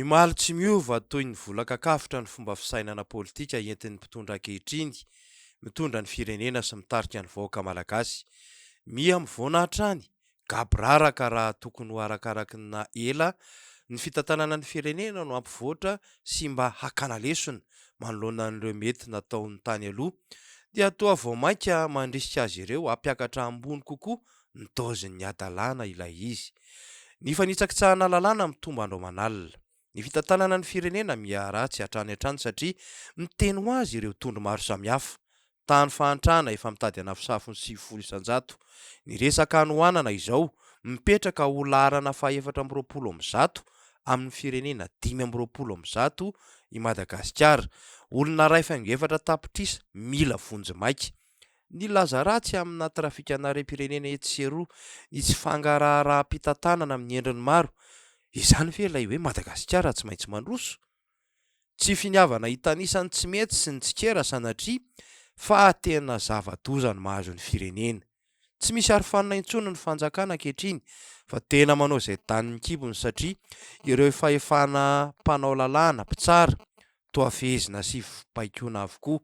Ny Mali tsy miova toy ny vola kakafotra ny fomba fisainana politika entin'ny mpitondra ankehitriny, mitondra ny firenena sy mitarika ny vahoaka malagasy. Miha mivoana hatrany, gaboraraka raha tokony ho arakaraky ny na ela ny fitantanana ny firenena no hampivoatra sy mba hakana lesona manoloana an'ireo mety nataon'ny tany aloha dia toa vao mainka mandrisika azy ireo hampiakatra ambony kokoa nitaozin'ny hadalàna ilay izy. Ny fanitsakitsahana lalàna mitombo andro aman'alina. Ny fitantanana ny firenena miharatsy hatrany hatrany satria miteny ho azy ireo tondro maro samihafa. Tany fahantrana efa mitady hanafosafo ny sivifolo isan-jato. Ny resaka hanohanana izao mipetraka ho laharana fahefatra amby roapolo amin'ny zato amin'ny firenena dimy amby roapolo amin'ny zato i Madagasikara. Olona iray faingo efatra tapitrisa mila vonjy maika. Ny laza ratsy amina trafikan'harem-pirenena etsy sy eroa, ny tsy fangaraharaham-pitantanana amin'ny endriny maro, izany ve ilay hoe Madagasikara tsy maintsy mandroso? Tsy finiavana hitanisa ny tsy mety sy ny tsikera sanatria fa tena zava-doza ny mahazo ny firenena. Tsy misy arofanina intsony ny fanjakana ankehitriny fa tena manao izay danin'ny kibony satria ireo fahefana mpanao lalàna, mpitsara, toa fehezina sy baikona avokoa.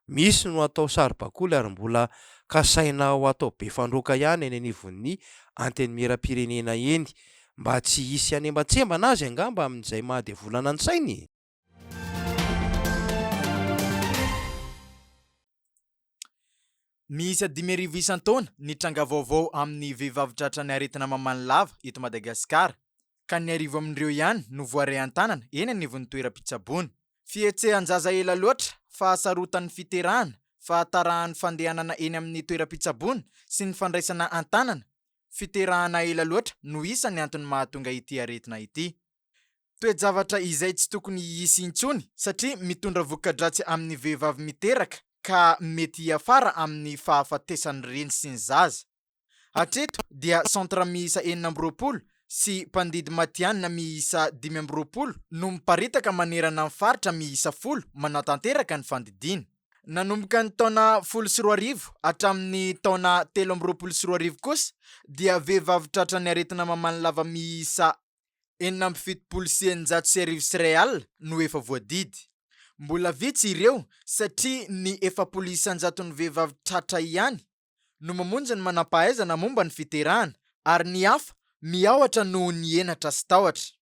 Misy no atao saribakoly ary mbola kasaina ho atao be fandroaka ihany eny anivon'ny Antenimierampirenena eny mba tsy hisy hanembatsembana azy angamba amin'izay mahadevolana ny sainy? Miisa dimy arivo isan-taona ny tranga vaovao amin'ny vehivavy tratra ny aretina mamany lava eto Madagasikara, ka ny arivo amin'ireo ihany no voaray an-tanana eny anivon'ny toeram-pitsaboana. Fihetsehan-jaza ela loatra, fahasarotan'ny fiterahana, fahatarahan'ny fandehanana eny amin'ny toeram-pitsaboana sy ny fandraisana an-tanana, fiterahana ela loatra no isan'ny antony mahatonga ity aretina ity. Toe-javatra izay tsy tokony hisy intsony satria mitondra voka-dratsy amin'ny vehivavy miteraka ka mety hiafara amin'ny fahafatesan'ny reny sy ny zaza. Hatreto dia centre miisa enina amby roapolo sy mpandidy matihanina miisa dimy amby roapolo no miparitaka manerana ny faritra miisa folo manatanteraka ny fandidiana. Nanomboka ny taona folo sy roa arivo hatramin'ny taona telo amby roapolo sy roa arivo kosa dia vehivavy tratran'ny aretina mamanilava miisa enina amby fitopolo sy eninjato sy arivo sy iray alina no efa voadidy. Mbola vitsy ireo satria ny efapolo isan-jaton'ny vehivavy tratra ihany no mamonjy ny manam-pahaizana momba ny fiterahana ary ny hafa miahotra noho ny henatra sy tahotra.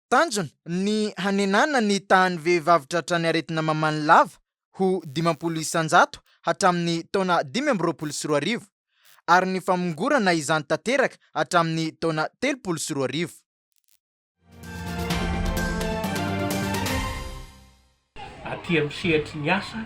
Tanjona ny hanenana ny tahan'ny vehivavy tratran'ny aretina mamany lava ho dimampolo isan-jato hatramin'ny taona dimy amby roapolo sy roa arivo, ary ny famongorana izany tanteraka hatramin'ny taona telopolo sy roa arivo. Aty amin'ny sehatry ny asa,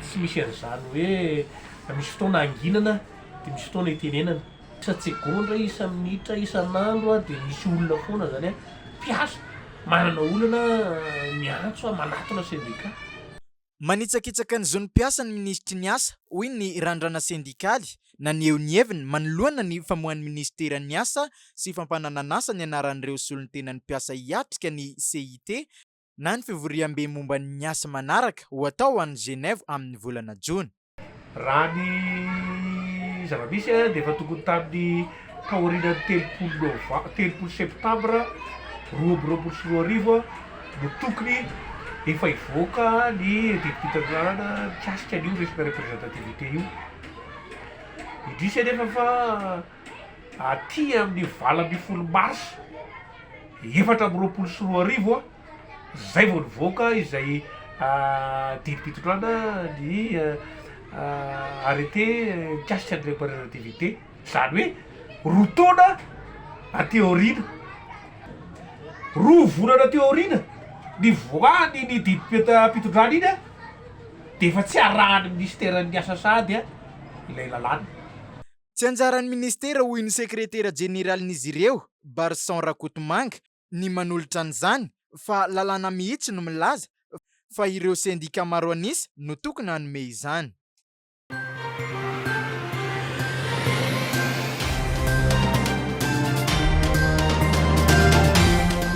tsy misy an'izany hoe misy fotoana hanginana dia misy fotoana hitenenana. Tsatsegaondra isa minitra isan'andro dia misy olona foana zany hoe mpiasa manana olana miantso manatona sendika. Manitsakitsaka ny zon'ny mpiasa ny minisitry ny Asa, hoy ny Randrana Sendikaly naneho ny heviny manoloana ny famoahan'ny minisiteran'ny Asa sy fampananan'asa ny anaran'ireo solontenan'ny mpiasa hiatrika ny CIT na ny fivoriambe momba ny asa manaraka ho atao any Genève amin'ny volana jona. Raha ny zava-misy dia efa tokony tamin'ny taorianan'ny telopolo nov, telopolo septambra roa amby roapolo sy roa arivo no tokony efa hivoaka ny didim-pitaterana mikasika an'io resaka representativité io. Indrisy anefa fa. aty amin'ny valo ambin'ny folo mars efatra amby roapolo sy roa arivo izay vao nivoaka izay didim-pitondrana ny arrêté mikasika ny reparerativité izany hoe roa taona aty aoriana roa volana aty aoriana ny voany ny didim-pitondrana iny a dia efa tsy arahan'ny ministeran'ny asa sahady ilay lalàna Tsy anjaran'ny minisitera hoy ny sekretera jeneralin'izy ireo, Barison Rakotomanga, ny manolotra an'izany fa lalàna mihitsy no milaza fa ireo sendika maro an'isa no tokony hanome izany.